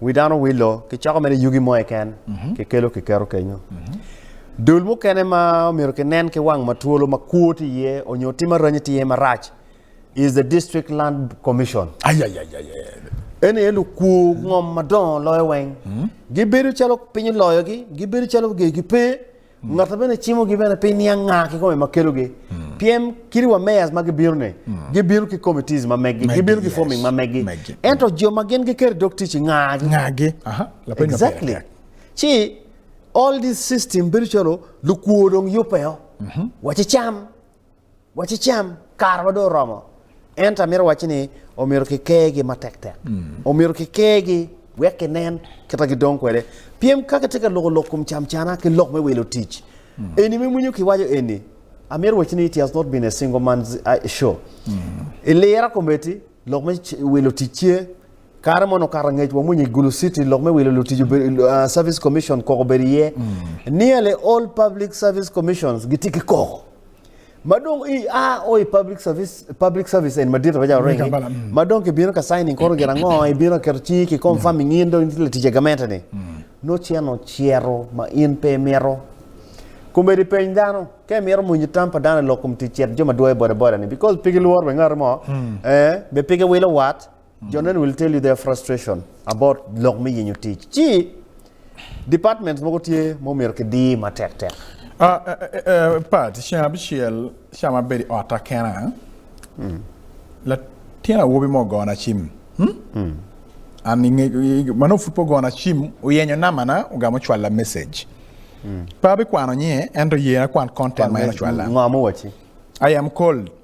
wi dano wilo, kicoko mere yugi mo keken, mhm. kikelo kiketo kenyo. Mhm. Dul mukene ma omyero kinen ki wang matwolo ma kwo tye iye onyo tim aranyi tye iye marac is the District Land Commission. Eni aye lukwo ngom madongo loyo weng. Mhm. Gibedo calo piny oloyogi, gibedo calo gegi pe. Ngato bene cimogi bene pi niang nga kikome ma kelogi. Pyem kit wa mayors ma gibino ni, gibino ki committees ma meggi, Meggi, gibino ki forming yes. ma meggi. Meggi. Ento jo ma gin giketo dog tic i nga gi. Nga gi. Aha. Lapeny ma pire Exactly. tek. Ci all this system bedo calo lukwor dong yubbe o. Waci cam. Wacicam, karawa dong oromo. Ento amito wacci ni omyero kikergi matek tek. Omyero kikergi wek kinen kita gidong kwede. Pien ka kitye ka loko lok kom cam cana ki lok me wilo tic, eni me winyo kiwaco eni, amito wacci ni it has not been a single man's show. Ilira kometi, lok me wilo tic ce, Kare mono okato angec wamwonyo i Gulu City lok me wilo lutic obedo uh, Service Commission koko obedo iye. Nearly all public service commissions gitye ki koko. Ma dong i a o i public service public service en madit pa jalo rengi. Kampala, mm. Ma dong kibino ka signing koro gin ango ibino keto cingi ki confirming in dong itye latic e gamente ni. No ceno cero ma in pe imito. Komedi peny dano ka imito mwonyo tam pa dano i lok kom tic cet jo ma dwoyo bodaboda ni because pe gilworo be ngati mo eh be pe giwilo wat Jonen will tell you their frustration about lok me yenyo tic. Ci departments mogo tye ma omyero kidir matek tek. Uh, uh, uh, Pat, ceng abicel ca ma abedo i otta kena, mm. latin awobi mo ogona cim. Hmm? Mm. An inge, man ofut po ogona cim, oyenyo namana, ogamo cwalla message. Mm. Pa abikwano nye, ento yena kwan content ma en ocwalla. Ngamo wachi. I am cold.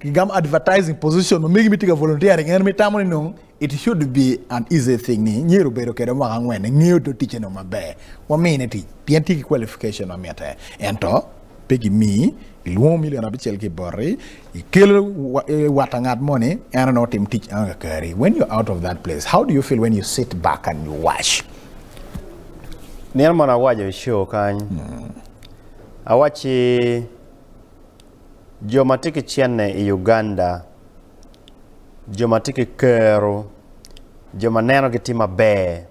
Gigamo advertising position ma megi mitye ka volunteering en mitamo ni nong it should be an easy thing ni myero obedo kede mwaka angwen engeyo do ticce nong maber wamine tic pien tye ki qualification ma mitte ento pe gimi ilwongo milion abicel ki boti ikelo wata ngat mo ni en onongo tim tic eno kakari when you're out of that place how do you feel when you sit back and you watch Nino moni awaco i show kany awacci Jo ma tye ki cene i Uganda, jo ma tye ki kero, jo ma nenogi tye maber,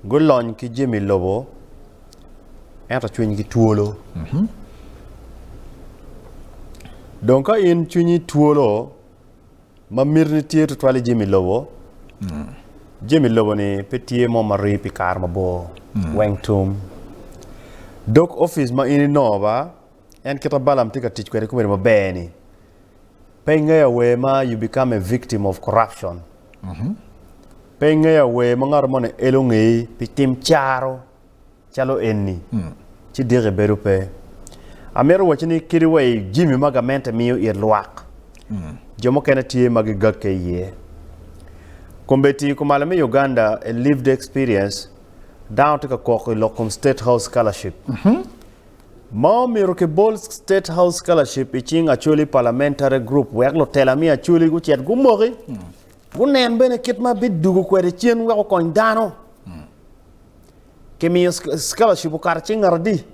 gulony ki jami lobo ento cwinygi twolo. Dong ka in cwinyi twolo, ma mitine tye tutwal i jami lobo, jami lobo-ni pe tye mo ma rii pi kare mabor weng tum. Dog opic ma in inongo ba en kit ma Balaam tye ka tic kwede i komedo maber-ni. Pe ingeyo awer ma you become a victim of corruption. Pe ingeyo awer ma ngato moni elo ngeyi pi tim caro calo enni, ci diki bedo pe. Amito wacci ni kadi wa i jimi ma gamente miyo it lwak, jo mukene tye ma gigakke iye. Kombeddi kumalo me Uganda, A Lived Experience, Dano tye ka kok i lok kom State House Scholarship. Ma omyero kibol State House Scholarship i cing Acholi Parliamentary Group wek lutela me Acholi gucit gumoki, gunen bene kit ma bidwogo kwede cen wek okony dano. kimiyo scholarship okato cing ngat adi?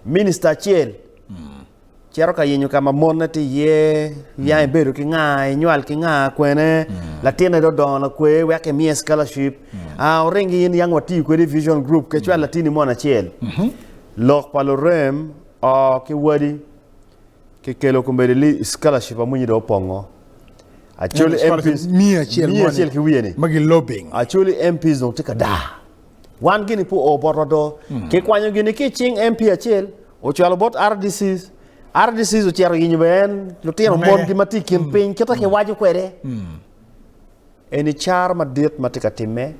Minista acel. Hmm. Cito ka yenyo ka ma monne ti iye, yang hmm. ibedo ki nga, inywal ki nga, kwene, hmm. latine do dongo lakwe, wek kimiye scholarship. Ah, oring in yang watiyo kwedi vision group, kecwal latini mon acel. Lok pa lurem, o ki wadi, ki kelo komedi li scholarship amwinyi do opongo Actually MPs miya acel miya acel ki wiye ni magi lobbying Actually MPs dong tye ka daa wan gini pu o bot wado hmm. ki kwanyo gini ki cing MP acel ocwalo bot RDCs RDCs ocero yinyo be en lutino mon gi mati kin hmm. piny kita ki hmm. wajo kwede eni char madit matye ka timme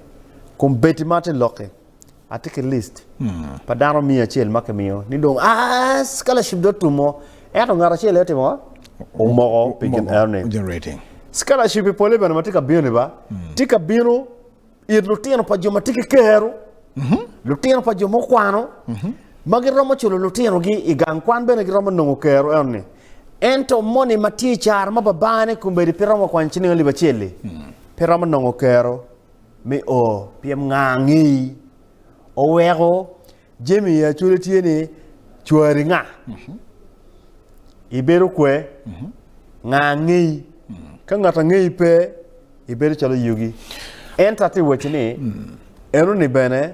kumbeti ma tye lokke Atye ki list pa dano miya acel ma kimiyo ni dong a scholarship dot tum mo. Ento ngat acel aye timo omoko pi gin eno ni. Generating. Scholarship i pole bene ma tye ka bino ni ba. Tye ka bino it lutino pa jo ma tye ki kero. Lutino pa jo ma okwano. Ma giromo culo lutinogi i gang kwan bene giromo nongo kero eno ni. Ento moni ma tye i caro ma babane kombedi pe romo kwany ciling alip acel-li. Pe romo nongo kero. me o pyem nga angeyi oweko jami ya cwale tye ni cwari nga mhm. ibedo kwe mhm. nga angeyi mhm. ka ngat angeyi pe ibedo calo yugi enta ti weci ni enoni bene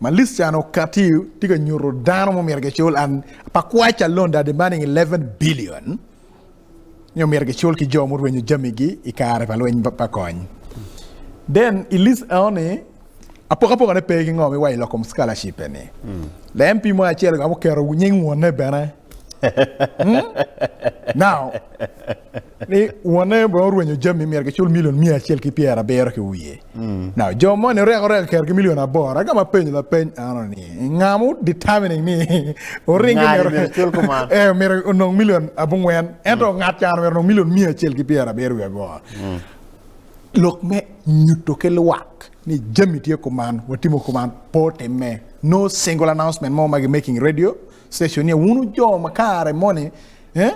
ma Listani okati tye ka nyuto dano ma myero gicul pa kwac alonda adi ma nining eleven billion nyo myero gicul ki jo murwenyo jamigi i kare pa lweny pa kony then i list eoni apokapoka ne pe ki ngo mi wa i lokom scholarship eni le MP mo acel ka muketo nying wonne bene Now, ni wonne bene orwenyo jami myero gicul milion miya acel ki pyer abiro ki wiye. Now, jo moni oreko oreko kero ki milion aboro. Aga ma penyo la peny ano ni, nga mu determining ni oring Nga ni myero cul kuman? eh, myero onong milion abungwen. Ento ngat caro myero onong milion miya acel ki pyer abiro wiye aboro. Lok me nyuto ki lwak ni jami tye kuman, watimo kuman, pe otimme. No single announcement mo ma gi making radio, Session niya wun wu jo ma kare moni eh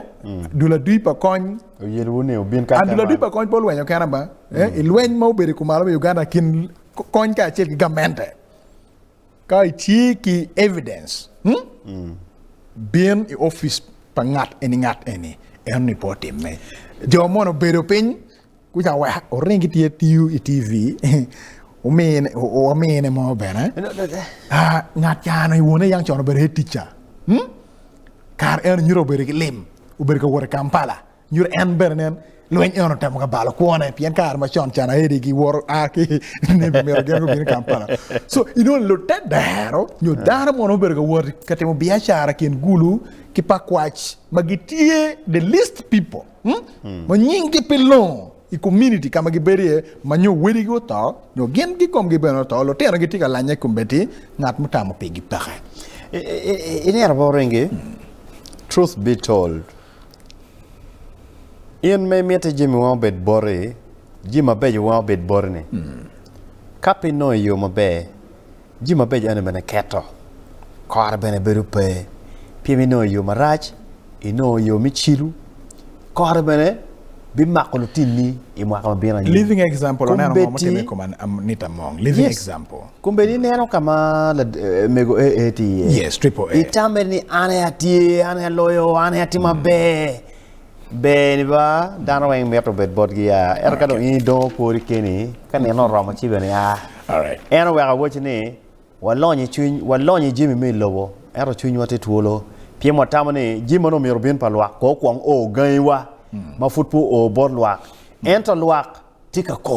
dul adui pa kony Oyel wu ni wubin ka adul adui pa kony pe olwenyo kena ba eh i lweny ma obedo i kumalo me Uganda kin kony ka acel ki gamente ka i tye ki evidence hmm? bin i office pa ngat eni ngat eni en ni po timme jo mono obedo piny Kuca wek oring ki tye tiyo i TV wamine mo bene ngat cano i wone yang con obedo head teacher hmm? kar en nyuto obedo ki lim obedo ka wot i Kampala nyuto en bene nen lweny eno temo ka balo kwone pien kare ma con cana edi gi woro a ki nebi mito gen gubino i Kampala so ino lute dero nyo hmm. dano mono obedo ka wot ka timo biacara kin gulu ki pakwac ma gitye the least people ma nyinggi pe longo i komuniti ka ma gibedo iye, ma nyo wadigi oto, nyo gin gikomgi bene oto, lutino gitye ka lanye i kombeddi, ngat mutamo pigi peke. Iliro bot ringi, truth be told, in ma imiti jami weng obed boti, jami mabeco weng obed boti-ni, ka pe inongo i yo maber, Jami mabeco eno bene keto kore bene bedo pe pien inongo yo marac, inongo yo me cilo, kore bene bimako lutinni i mwaka ma bino anyim. Kombeddi ineno ka ma mego AA tye iye, itame ni an aye atye, an aye aloyo, an aye atimo maber. Ber ni ba dano weng mito bed botgi ya, ento ka dong in idong okwori keni, ka nino oromo ci bene a. En oweko awaci ni, Walony i cwiny, walony i jami me i lobo, ento cwinywa tye twolo, pien watamo ni jami ma nongo myero obin pa lwak kono okwong o gangiwa ma pud pe oo bot lwak. Ento lwak tye ka ko.